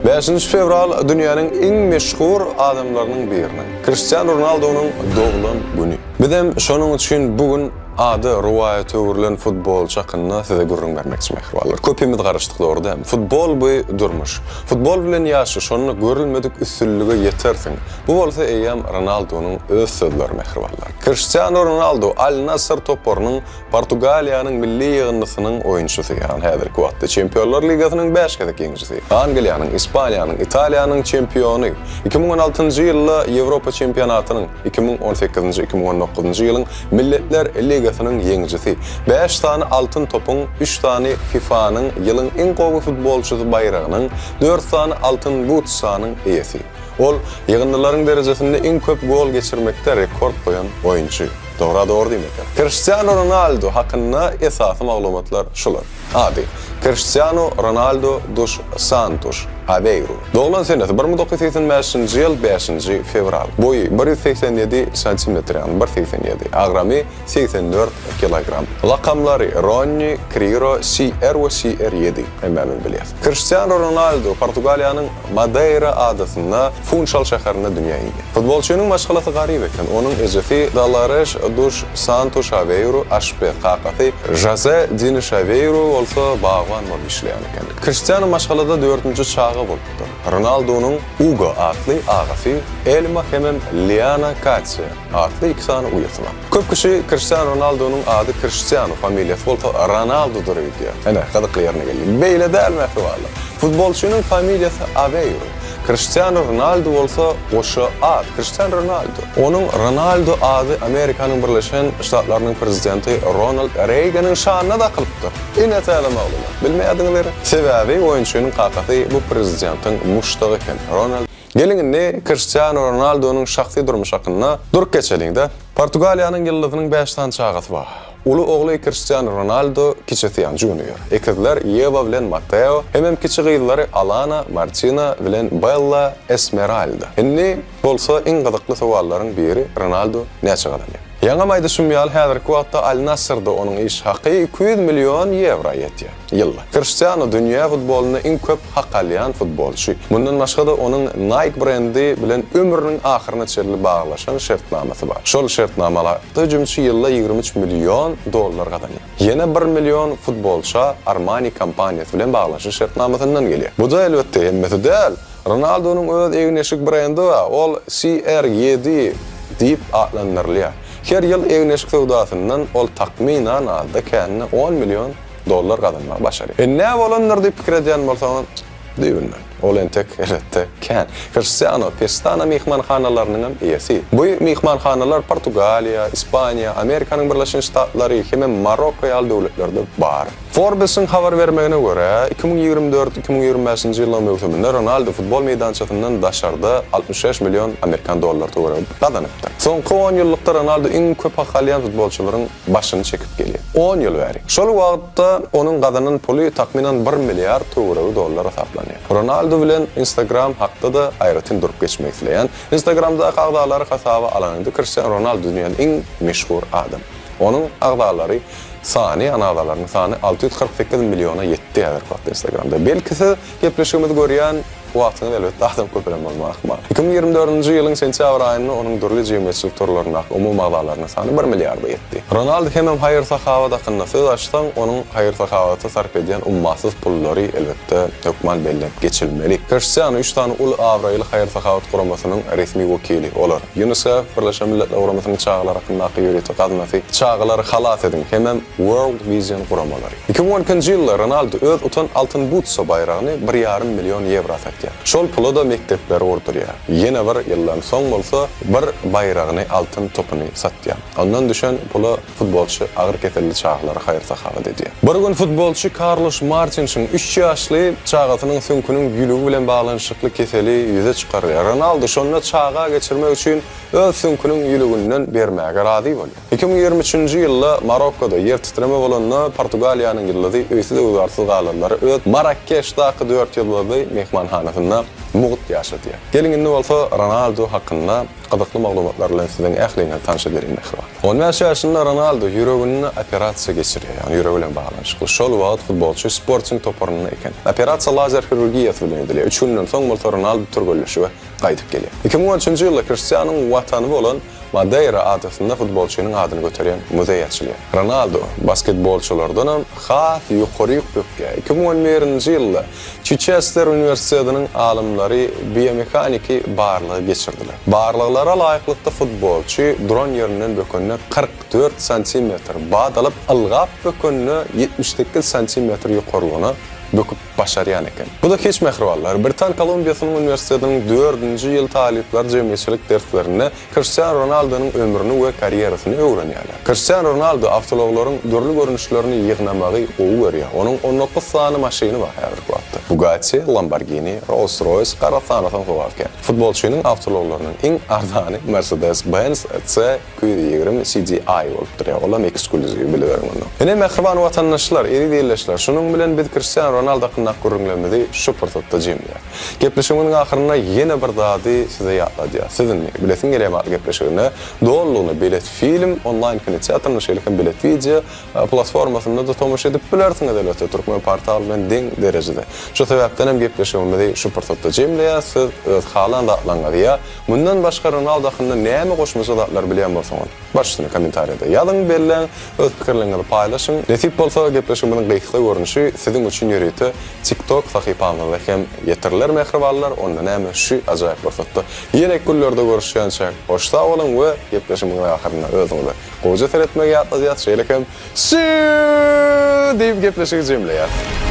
Bäşinji fewral dünýäniň iň meşhur adamlarynyň biriniň, Kriştianu Ronaldunyň doglan güni. Bizem şonuň üçin bu gün ady rowaýata öwrülen futbolçy hakynda size gürrüň bermekçi mähribanlar. Köpimiz garaşdyk dogry dämi? Futbol bu durmuş. Futbol bilen ýaşa şonda görülmedik üstünlige ýetersiň. Bu bolsa eýýäm Ronaldunyň öz sözleri mähribanlar. Kriştianu Ronaldu Al-Nassr toparynyň Portugaliýanyň milli ýygyndysynyň oýunçysy, ýagny häzirki wagtda Çempionlar ligasynyň bäş gezek ýeňijisi, Angliýanyň, Ispaniýanyň, Italiýanyň çempiony, iki müň on altynjy ýylda Ýewropa çempionatynyň, iki müň on sekizinji, iki müň on dokuzynjy ýylyň Milletler ligasynyň ýeňijisi, bäş sany Altyn topuň, üç sany FIFA-nyň Ýylyň iň gowy futbolçysy baýragynyň, dört sany Altyn but sanyň eýesi. Ol ýygyndylaryň derejesinde iň köp gol geçirmekde rekord goýan oýunçy. Dogra dogry diýmekdir. Kriştianu Ronaldu hakynda esasy maglumatlar şular. Ady, Kriştianu Ronaldu Dus Santus Aweiru. Doglan senesi, bir müň dokuz ýüz segsen bäşinji ýyl bäşinji fewral. Boýy, bir ýüz segsen ýedi santimetr, ýagny bir segsen ýedi. Agramy, segsen dört kilogram. Lakamlary, Ronni, Kriro, CR we CR ýedi. Hemmämiz bilýäs. Kriştianu Ronaldu Portugaliýanyň Madeýra adasynda Funşal şäherinde dünýä indi. Futbolçynyň maşgalasy garyp eken. Onuň ejesi Dalareş Duş Santu Şaweiru aşpez, kakasy Žoze Dini Şaweiru bolsa bagban bolup işleýän eken. Kriştianu maşgalada dördünji çaga bolupdyr. Ronaldunyň Ugo atly agasy, Elma hemem Liana Katýa atly iki sany uýasy bar. Köp kişi Kriştianu Ronaldunyň ady Kriştianu, familiýasy bolsa Ronaldudyr öýdýär. Ene, gyzykly ýerine geldik. Beýle däl, mähribanlar. Futbolçynyň familiýasy Aweýru. Kriştianu Ronaldu bolsa goşa at, Kriştian Ronaldu. Onuň Ronaldu ady Amerikanyň Birleşen Ştatlarynyň prezidenti Ronald Reýganyň şanyna dakylypdyr. Ine täze maglumat. Bilmeýärdiňiz gerek? Sebäbi oýunçynyň kakasy bu prezidentiň muşdagy eken. Ronald. Geliň indi Kriştianu Ronaldonyň şahsy durmuşy hakynda durup geçeliň-de. Portugaliýanyň ýyldyzynyň bäş sany çagasy bar. Uly ogly Kriştianu Ronaldo, kiçisi ýa Junior, ekizler Ýewa bilen Mateo hemem kiçi gyzlary Alana, Martina bilen Bella Esmeralda. Indi bolsa iň gyzykly sowallaryň biri Ronaldo näçe gazanýar? Ýaňam aýdyşym ýaly häzirki wagtda Al-Nassyrda onuň iş haky iki ýüz million ýewra ýetýär. Ýyl. Kriştianu dünýä futbolynda iň köp hak alýan futbolçy. Mundan başga-da onuň Nike brendi bilen ömrüniň ahyryna çenli baglaşan şertnamasy bar. Şol şertnamalarda hüjümçi ýylda ýigrimi üç million dollar gazanýar. Ýene bir million futbolça Armani kompaniýasy bilen baglaşan şertnamasyndan gelýär. Bu-da elbetde hemmesi däl. Ronaldunyň öz egin-eşik brendi bar, ol CR ýedi diýip atlandyrylýar. Her ýyl egin-eşik söwdasyndan ol takmynan azda-kände on million dollar gazanmagy başarýar. E nä bolandyr diýip pikir edýän bolsaňyz, düýbünden, ol entek, elbetde, kän. Kriştianu Pestana myhmanhanalarynyň hem eýesi. Bu myhmanhanalar Portugaliýa, Ispaniýa, Amerikanyň Birleşen Ştatlary hemem Marokko ýaly döwletlerde bar. Forbes-iň habar bermegine görä, iki müň ýigrimi dört, iki müň ýigrimi bäşinji ýyllaryň möwsüminde Ronaldu futbol meýdançasyndan daşarda altmyş bäş million amerikan dollary töweregi gazanypdyr. Soňky onýyllykda Ronaldu iň köp hak alýan futbolçylaryň başyny çekip gelýär. On ýyl bäri. Şol wagtda onuň gazanan puly takmynan bir milliard töweregi dollar hasaplanýar. Ronaldu bilen Instagram hakda-da aýratyn durup geçmek isleýän. Instagramdaky agzalary hasaba alanyňda Kristiano Ronaldu dünýäde iň meşhur adam. Onuň agzalary sany, ýagny agzalarynyň sany alty ýüz kyrk sekiz milliona ýetdi häzirki wagtda Instagramda. Belki siz. Gepleşigimizi görýän wagtyňyz elbetde adam köpelem bolmagy ahmal. Iki müň ýigrimi dördünji ýylyň sentýabr aýynda onuň dürli jemgyýetçilik torlaryndaky umumy agzalarynyň sany bir milliarda ýetdi. Ronald hemem haýyr-sahawat hakynda söz açsaň, onuň haýyr-sahawata sarp edýän ummasyz pullary elbetde hökman bellenip geçilmeli. Kriştianu üç sany uly abraýly haýyr-sahawat guramasynyň resmi wekili. Olar, UNICEF, Birleşen Milletler Guramasynyn çagalar hakyndaky ýörite gaznasy, Çagalary halas ediň! hemem World Vision guramalary. Iki müň on ikinji ýylda Ronaldu öz utan Altyn Butsa baýragyny bir ýarym million ýewra satýar. Şol pula-da mekdepleri gurdurýar. Ýene bir ýyldan soň bolsa bir baýragyny Altyn Topuny satýar. Ondan düşen pula futbolçy agyr keselli çagalara haýyr-sahawat edýär. Bir gün futbolçy Karluş Martinşiň üç ýaşly çagasynyň süňküniň ýülügi bilen baglanyşykly keseli ýüze çykarylýar. Ronaldu şonda çaga geçirmek üçin öz süňküniň ýülüginden bermäge razy bolýar. Iki müň ýigrimi üçünji ýylda Marokkoda ýer titreme bolanda Portugaliýanyň ýyldyzy öýsüz-öwzarsyz galanlary öz Marrakeşdaky dört ýyldyzly myhmanhanasynda mugt ýaşadýar. Geliň indi bolsa Ronaldu hakynda gyzykly maglumatlar bilen siziň ähliňizi tanyş edeliň mähriban. On bäş ýaşynda Ronaldu ýüreginde operasiýa geçirýär, ýagny ýüregi bilen baglanyşykly. Şol wagt futbolçy Sporting toparynda eken. Operasiýa lazer hirurgiýasy bilen edilýär. Üç günden soň bolsa Ronaldu türgenleşige gaýdyp gelýär. Iki müň on üçünji ýylda Kriştianuň watany bolan Madeýra adasynda futbolçynyň adyny göterýän muzeý açylýar. Ronaldo basketbolçylardanam has ýokary ýüplükge, iki müň on birinji ýylda Çiçester uniwersitetiniň alymlary biomehaniki barlagy geçirdiler. Barlaglara laýyklykda futbolçy duran ýerinden bökende kyrk dört santimetr bat alyp, ylgap bökende ýetmiş sekiz santimetr ýokarlygyna böküp. başarýan eken. Bu-da hiç mähribanlar. Britan Kolumbiýasynyň uniwersitetiniň dördünji ýyl talyplar jemgyýetçilik derslerinde Kriştianu Ronaldonyň ömrüni we karýerasyny öwrenýärler. Kriştianu Ronaldo awtoulaglaryň dürli görnüşlerini ýygnamagy gowy görýär. Onuň on dokuz sany maşyny bar, häzirki wagtda Bugatti, Lamborghini, Rolls-Royce, gara sany soňky wagtky. Futbolçynyň awtoulaglarynyň iň arzany Mercedes-Benz C Ýüz ýigrimi CDI bolup durýar, olam eksklýuziw, biliberiň ony. Ine, mähriban watandaşlar, eziz ildeşler, şunuň bilen biz Kristiano Ronaldo hakyndaky gürrüňlerimizi şu pursatda jemleýäs. Gepleşigimiziň ahyryna ýene bir zady size ýatladýas. Siz indi, Bilesim gelýär maňa gepleşigine dolulygyna bilet film onlaýn kinoteatrynda, şeýle hem bilet wideo platformasynda-da tomaşa edip bilersiňiz, elbetde, türkmen portaly bilen deň derejede. Şu sebäpden hem gepleşigimizi şu pursatda jemleýäs, siz öz halan zatlaryňyzy ýa. Mundan başga Ronaldo hakynda näme goşmaça zatlar bilýän bolsaňyz, barçasyny kommentariýada ýazyň, belläň, öz pikirleriňizi paýlaşyň. Nesip bolsa, gepleşigimiziň gysga görnüşi siziň üçin ýörite TikTok sahypamyzda hem ýetiriler mähribanlar, onda näme şu ajaýyp pursatda ýene günlerde görüşýänçäk hoş sag boluň we gepleşigimiziň ahyrynda özüňize gowja seretmegi ýatladýas şeýle hem Siýu! diýip gepleşigi jemleýäs.